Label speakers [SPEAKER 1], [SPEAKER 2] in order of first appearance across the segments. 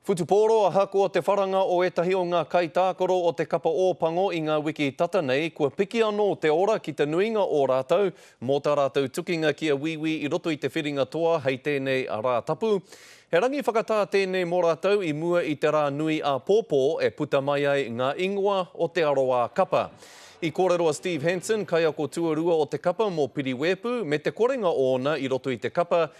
[SPEAKER 1] Whutupōro Ahakoa te wharanga o ētahi o ngā kaitākaro o te Kapa Ōpango i ngā wiki tata nei, kua piki anō te ora ki te nuinga o rātou mō tā rātou tukinga ki a Wīwī i roto i te whiringa toa hei tēnei Rātapu. He rangi whakatā tēnei mō rātou i mua i te rā nui āpōpō e puta mai ai ngā ingoa o Te Arawa Kapa. I kōrero a Steve Hanson, kaiako tuarua o te kapa mō Piriwēpu, me te korenga ōna i roto i te kapa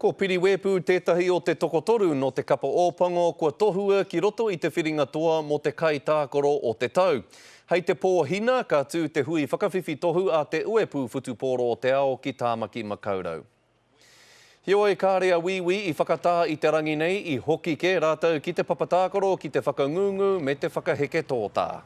[SPEAKER 2] Ko
[SPEAKER 1] Piriwēpū tētahi o te tokotoru nō Te Kapa Ōpango kua tohua ki roto i te whiringa toa mō te kaitākaro o te tau. Hei te Pōhina, ka tū te hui whakawhiwhi tohu a Te Uepū Whutupōro o te Ao ki Tāmaki Makaurau. Heoi, kāre a Wīwī i whakatā i te rangi nei, i hoki kē rātou ki te papatākaro ki te whakangungu me te whakaheke tōtā.